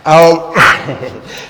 Awo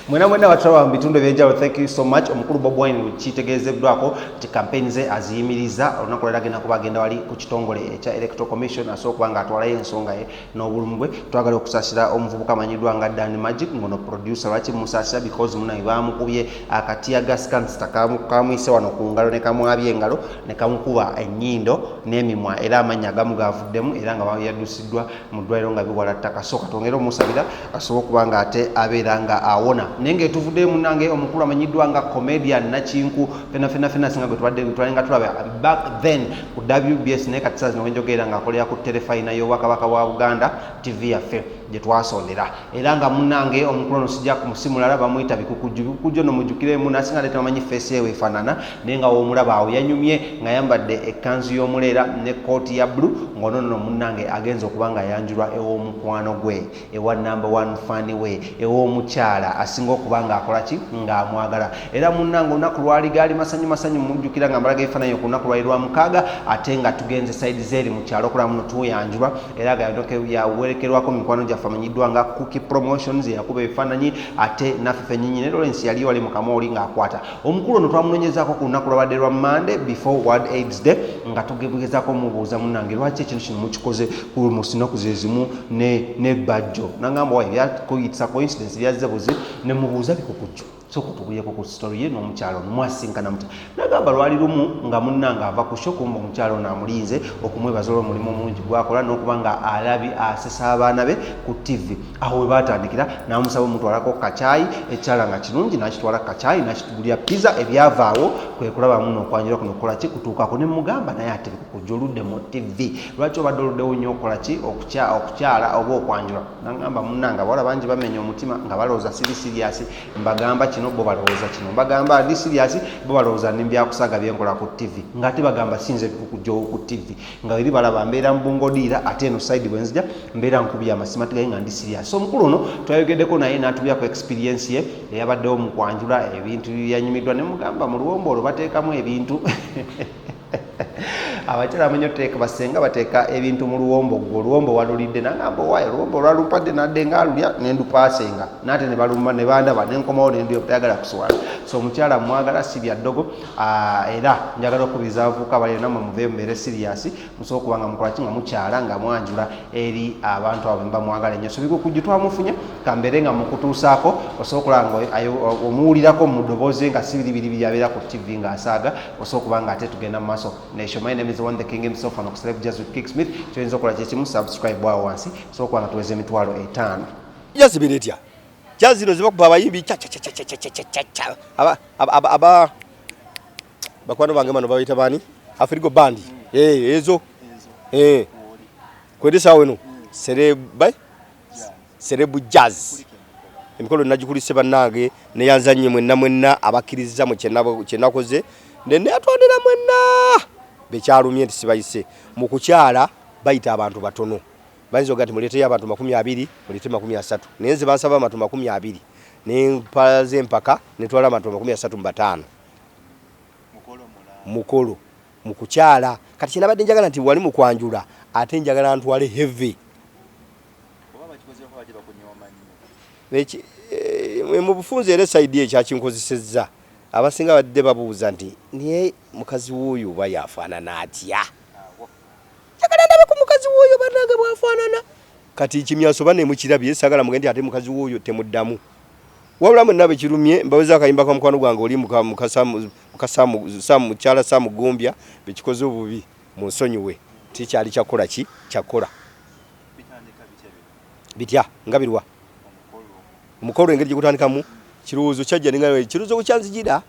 mwena mwena batulawa mu bitundu ebyenjawulo thank you so much omukulu bob wine kitegeezeddwako nti kampeyini ze aziyimiriza olunaku lwera agenda kuba agenda wali ku kitongole ekya electoral commission asobola okuba nga atwalayo ensonga ye n'obulumu bwe twagala okusaasira omuvubuka amanyiddwa nga dan magic ngono producer lwaki musaasira because munaye baamukubye akati agasikanzita kamuyise wano ku ngalo ne kamwabya engalo ne kamukuba ennyindo n'emimwa era amannya agamu gaavuddemu era nga yadusiddwa mu ddwaliro nga biwala ttaka sooka twongere omusabira asobola okuba nga ate abeera nga awona naye nga etuvuddeyo munange omukulu amanyiddwa nga comedian nakinku fenafenafena singa gwe tubadde twali nga tulaba back then ku wbs naye kati saazi nowenjogeera nga akolera ku terefayina y'obwakabaka bwa buganda tv yaffe gye twasondera era nga munange omukulu ono sijja kumusimulala bamuyita bikukujju bikukujju ono mujjukiremu nasinga nate tebamanyi feesi yewe efaanana naye nga womulaba awo yanyumye nga yambadde ekkanzu y'omuleera ne kooti ya bulu ng'ononono munange agenza okuba nga ayanjulwa ew'omukwano gwe ewa namba one fani we ew'omukyala asinga okuba ng'akola ki ng'amwagala era munnange olunaku lwali gaali masanyu masanyu mujjukira nga mbalaga ebifaananyi ku lunaku lwali lwa mukaaga ate nga tugenze saidi zeeri mu kyalo okulaba muno tuyanjulwa era nga yawerekerwako mu mikwano gyaffe amanyiddwa nga cooki promotions yakuba ebifaananyi ate naffe fennyinyi ne lawrence yali wali mu kamooli ng'akwata omukulu ono twamunoonyezaako ku lunaku lwabadde lwa mande before world aids day nga tugegezaako omubuuza munnange lwaki ekintu kino mukikoze ku musinaku ze zimu ne bajjo nangamba wayo yakuyitisa coincidence byazze buzi ne mubuuza bikukujjo soka tubuyeko ku story ye n'omukyalo ono mwasinkana mutya nagamba lwali lumu nga munnanga ava ku shokumba omukyalo ono amulinze okumwebaza olwo omulimu omungi gwakola n'okuba nga alabi asesa abaana be ku tivi awo we baatandikira n'amusaba omutwalako kacaayi ekyala nga kirungi n'akitwala kacaayi n'akitugulira pizza ebyavaawo kwe kulabamu n'okwanjula kuno kukola ki kutuukako ne mugamba naye ate kukujja oludde mu tivi lwaki obadde oluddewo nnyo okola ki okukyala oba okwanjula nangamba munanga abawala bangi bamenya omutima nga balowooza siri siriasi mbagamba kino bo balowooza kino mbagamba ndi siriasi bo balowooza ndi mbyakusaga byenkola ku tivi nga ate bagamba sinze bikukujawo ku tivi nga weri balaba mbeera mubungodiira ate eno saidi bwenzija mbeera nkubya amasima tigaye nga ndi siriasi so omukulu ono twayogeddeko naye natubyako experiensi ye eyabaddewo mu kwanjula ebintu yanyumiddwa ne mugamba mu luwombo olwo bateekamu ebintu abakyala munyo teeka basenga bateeka ebintu mu luwombo gwe oluwombo walulidde nagamba owaye oluwombo olwalumpadde nadde nga alulya nendupasenga nate nebalumba nebandaba nenkomawo nenduya butayagala kuswala so omukyala mwagala si bya ddogo ah, era njagala okubiriza abavuuka abali namwe muve mubeere siriyasi musobola okuba nga mukolaki nga mukyala nga mwanjula eri abantu abo bemba mwagala enyo sobiga okujju twamufunye kambeere nga mukutuusaako osobola okulaba nga omuwulirako mu ddoboozi nga sibiribiribiri abeera ku ttivi ng'asaaga osobola okuba nga ate tugenda mu maaso nesho my name is one the king himself and okuseleb jazz with kick smith kyoyinza okukola kyekimu subscribe awo wansi osobola okuba nga tuweza emitwalo etaano jazibira etya jazz zino zibakuba abayimbi cacacacacacacaca aba aba aba bakwano bange bano babayita baani afirigo bandi ezo kwedesaawo eno serebai serebu jazz emikolo nagikulise bannange neyanzanye mwenna mwenna abakkirizza mu kyenakoze neneyatondera mwenna bekyalumye nti sibayise mu kukyala bayita abantu batono bayinza oga nti muleeteyo abantu makumi abiri muleete makumi asatu naye nze bansaba abantu makumi abiri nempaza empaka netwala abantu makumi asatu mu bataano mukolo mu kukyala kati kyenabadde njagala nti wali mukwanjula ate njagala ntwale heavy eh, mubufunzi era esaidi ekyakinkozesezza abasinga badde babuuza nti naye mukazi wuuyo oba yafaanana atya njagala ndabe ku mukazi wuuyo banange bwafaanana kati kimyaso ba nemukirabye sagala muge nti ate mukazi wuuyo temuddamu wabula mwenna bekirumye mbaweza akayimba ka mukwano gwange oli mukasa Muka Sam, Sam mukyala Sam Ggumbya bekikoze obubi munsonyiwe tikyali kyakukola ki kyakukola bitya nga birwa omukolo engeri gyegutandikamu kirowoozo kyajja ninga kirowoozo kyanzijira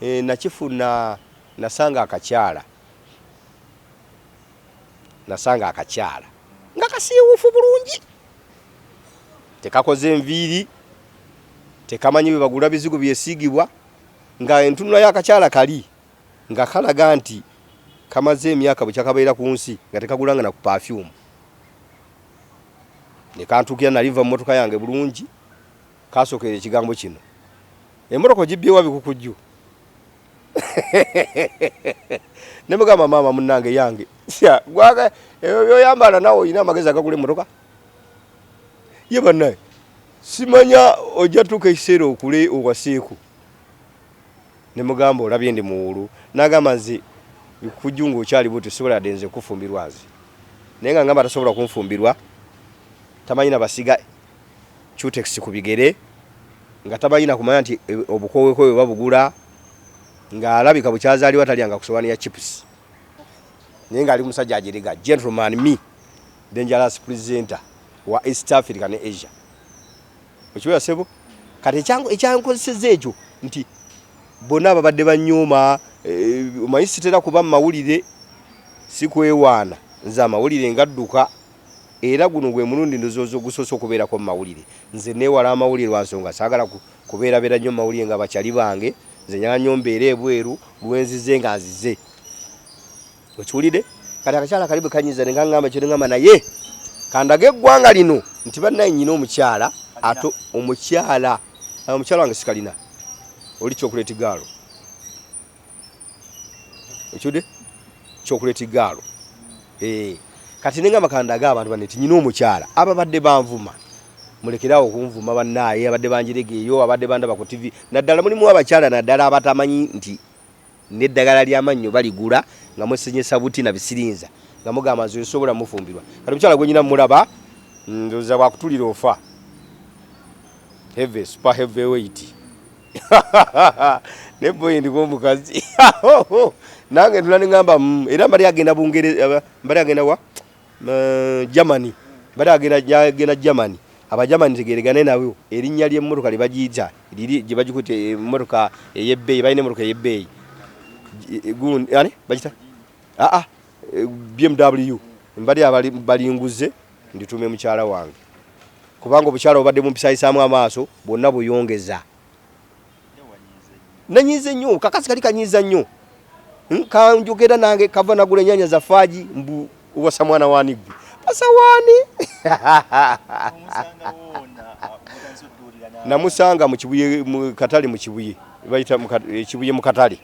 e, nakifuna nasanga akakyala nasanga akakyala nga kasiiwuufu bulungi tekakoze enviiri tekamanyi bebagula bizigo byesiigibwa nga entunula y'akakyala kali nga kalaga nti kamaze emyaka bwe kyakabeera ku nsi nga tekagulanga na ku pafyumu ne kantuukira naliva mu motoka yange bulungi kasookera ekigambo kino emmotoka ogibyewa bikukujju ne mugamba maama munnange yange ebyo byoyambala nawe olina amagezi agagula emmotoka ye bannaye simanya ojja tuuka ekiseera okule owaseeku ne mugamba olabye ndi muwuulu nagamba nze kujju nga okyali bwotyo sisobola yadde nze kufumbirwa nze naye nga ngamba tasobola kunfumbirwa tamanyi na basiga cutex ku bigere nga tamanyi na kumanya nti e, obukowekowebwe babugula nga alabika bukyazaliwa talya nga kusowani ya chips naye nga ali musajja ajerega gentleman me dangerous presenter wa east africa ne asia Okiwera sebo kati ekyankozeseza ekyo nti bona babadde banyuma eh, omanyi sitera kuba mumawulire sikwewaana nze amawulire ngadduka era guno gwe mulundi ndozooza ogusoose okubeerako mu mawulire nze neewala amawulire lwa nsonga saagala kubeerabeera nnyo mu mawulire nga bakyali bange nze nyala nnyo mbeera ebweru lwenzize nga nzize okiwulide kati akakyala kali bwekanyiza nenga ngamba kyo nengamba naye kandaga eggwanga lino nti bannaye nyina omukyala ate omukyala omukyala wange sikalina oli kyokuleti gaalo ekiwulide kyokuleti gaalo eh, kati nengamba kandaga abantu banne ti nyina omukyala ababadde banvuma mulekerawo okunvuma bannaye abadde banjirega eyo abadde bandaba ku tivi naddala mulimu abakyala naddala abatamanyi nti N'eddagala ly'amannyo baligula nga mwesenyesa buti na bisirinza nga mugamba nze nsobola mufumbirwa. Kati omukyala gwe nyina mulaba mm, ndoza bwakutulira ofa. Heavy, super heavy weight. Ne boy ndiko omukazi. Nange ndula nengamba mm, era mbali agenda Bungereza mbali agenda wa? Eh, Germany bali agenda agenda Germany aba Germany tegeregane nabo erinnya ly'emmotoka lye bagiyita liri gye bagikuta emmotoka ey'ebbeeyi balina emmotoka ey'ebbeeyi gundi ani bagita aa ah, ah, eh, BMW mbali abali balinguze nditume mukyala wange kubanga obukyala obadde bumpisayisaamu amaaso bwonna buyongeza nanyiize nnyo kakasi kali kanyiiza nnyo hmm, kanjogera nange kava nagula enyanya za faaji mbu wasa mwana wani gwe wasa wani namusanga mukibuye mukatale mukibuye bayita ekibuye mukatale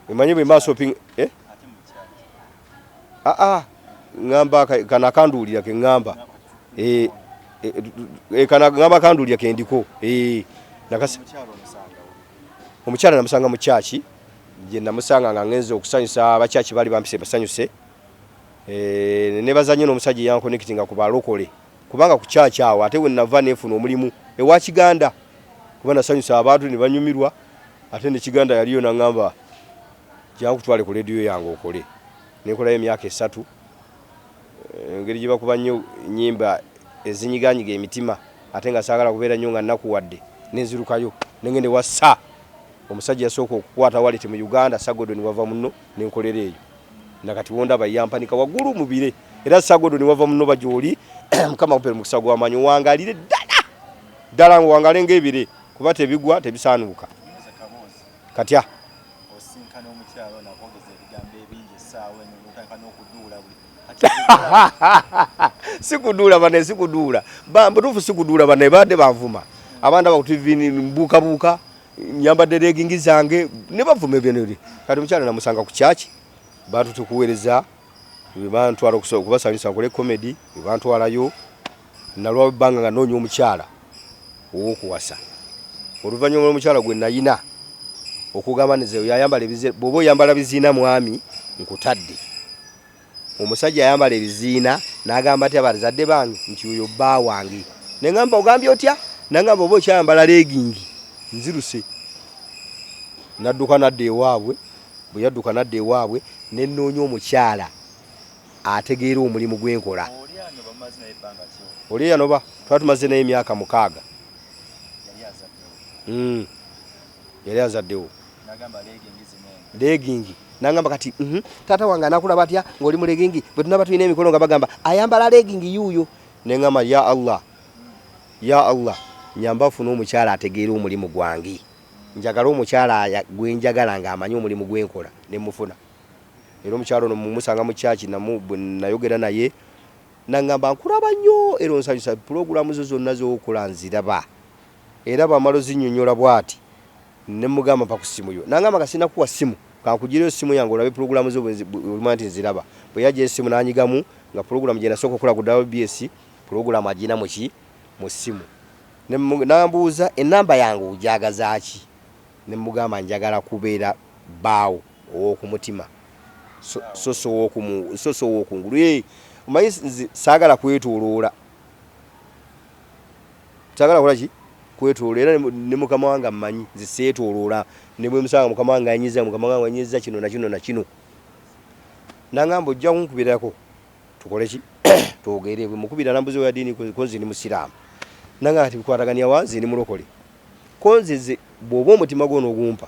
emanyi bwe maso ping eh aa ngamba kano akanduulira ke ngamba eh, eh, eh, kana ngamba akanduulira ke ndiko eh, nakasi omukyala namusanga mu kyaki gye namusanga nga ngenze okusanyusa abakyaki baali bampise basanyuse eh, nebaza nnyo n'omusajja eyankonekitinga ku balokole kubanga ku kyaki awo ate wenava nefuna omulimu ewa kiganda kuba nasanyusa abantu ne banyumirwa ate ne kiganda yaliyo nangamba Jangu kutwale ku leediyo yange okole. Ne nkolayo emyaka esatu. Engeri gye bakuba nnyo ennyimba ezinyigaanyiga emitima ate nga saagala kubeera nnyo nga nnakuwadde ne nzirukayo ne ngenda ewa Sir, omusajja eyasooka okukwata waleti mu Uganda, Sir Gordon Wavamunno ne nkolera eyo. Na kati w'ondaba yampanika waggulu mu bire. Era Sir Gordon Wavamunno oba gy'oli, Mukama akupe omukisa gwa maanyi owangaalire ddala ddala ng'owangaale ng'ebire kuba tebigwa tebisaanuuka. katya osinkana omukyalo nakwogeza ebigambo ebingi esaawa eno notandika n'okuduula buli sikuduula bane sikuduula butuufu sikuduula bane baadde banvuma abaana bakutuvini mbuukabuuka nyambadde regingi zange ne bavuma ebyeneri kati omukyalo namusanga ku kyaki bantu tukuweereza bantwala okubasanyusa nkole komedi bantwalayo Nalwawo ebbanga nga nnoonya omukyala ow'okuwasa. Oluvannyuma lw'omukyala gwe nnalina okugamba nze oyo ayambala ebiziina, bw'oba oyambala biziina mwami nkutadde. Omusajja ayambala ebiziina n'agamba atya bazadde bange nti oyo bba wange. Ne ngamba ogambye otya? N'angamba oba okyayambala leegingi nziruse. Nadduka nadda ewaabwe, bwe yadduka nadda ewaabwe ne nnoonya omukyala. ategeera omulimu gwe nkola. Oli eyanoba twali tumaze naye emyaka mukaaga. Hmm. Yali azaddewo. Leegingi. Nangamba kati mhm, taata wange anakulaba atya ng'oli mu leegingi bwe tunaba tulina emikolo nga bagamba ayambala leegingi yuuyo. Ne ngamba ya Allah, ya Allah nyamba afune omukyala ategeera omulimu gwange. Njagala omukyala gwe njagala ng'amanyi omulimu gwe nkola ne mufuna. Era omukyala ono mumusanga mu church namu bwe nayogera naye nangamba nkulaba nnyo era onsanyusa pulogulamu zo zonna z'okola nziraba era bw'amala ozinnyonnyola bwati ne mmugamba mpa ku ssimu yo nangamba nga sinnakuwa ssimu kankugireyo essimu yange olabe pulogulamu zo bwe olimanya nti nziraba bwe yajja essimu n'anyigamu nga pulogulamu gye nasooka okukola ku WBS pulogulamu agirina mu ki mu ssimu ne mmu- n'ambuuza ennamba yange ogyagaza ki ne mmugamba njagala kubeera bbaawo Ow'oku mutima so si ow'oku ngulu. Omanyi nze saagala kwetooloola, saagala kola ki kwetooloola era ne mukama wange ammanyi nze seetooloola ne bwe musanga mukama wange anyiza mukama wange anyiza kino na kino na kino nangamba ojja kunkubirako tukole ki twogere bwe mukubira nambuza oya ddiini ko nze ndi musiraamu nangamba kati bikwatagania wa nze ndi mulokole Ko nze nze bwoba omutima gwo nogumpa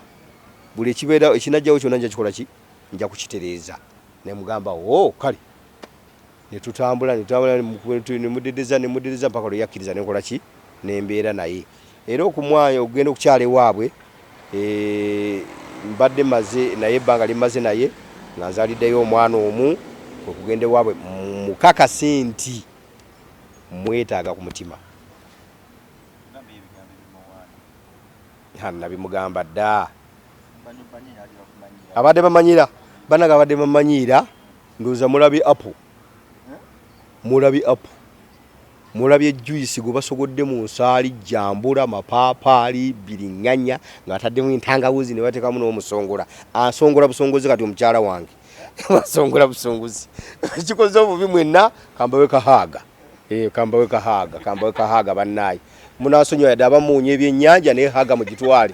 buli ekibeerawo ekinajjawo kyona nja kikola ki nja kukitereeza nemugamba ooh kale netutambula netutambula nemudedeza nemudedeza mpaka lweyakkiriza nenkola ki nembeera naye era okumwaya okugenda okukyala ewaabwe eeh mbadde maze naye ebbanga lyemmaze naye nga nzaliddeyo omwana omu kwekugenda ewaabwe mukakase nti mwetaaga ku mutima. nabimugamba ddaa abadde bamanyira banaga abadde bamanyiira ndoza mulabi apu mulabi apu mulabye juisi gwe basogodde mu nsaali jambula mapaapaali biringanya ng'ataddemu entangawuzi ne bateekamu n'omusongola asongola busongozi kati omukyala wange asongola busongozi kikoze obubi mwenna kambawe kahaaga Eh, kambawe kahaga kambawe kahaga banaye munasonyiwa yadde abamuunya ebyennyanja naye haga mugitwale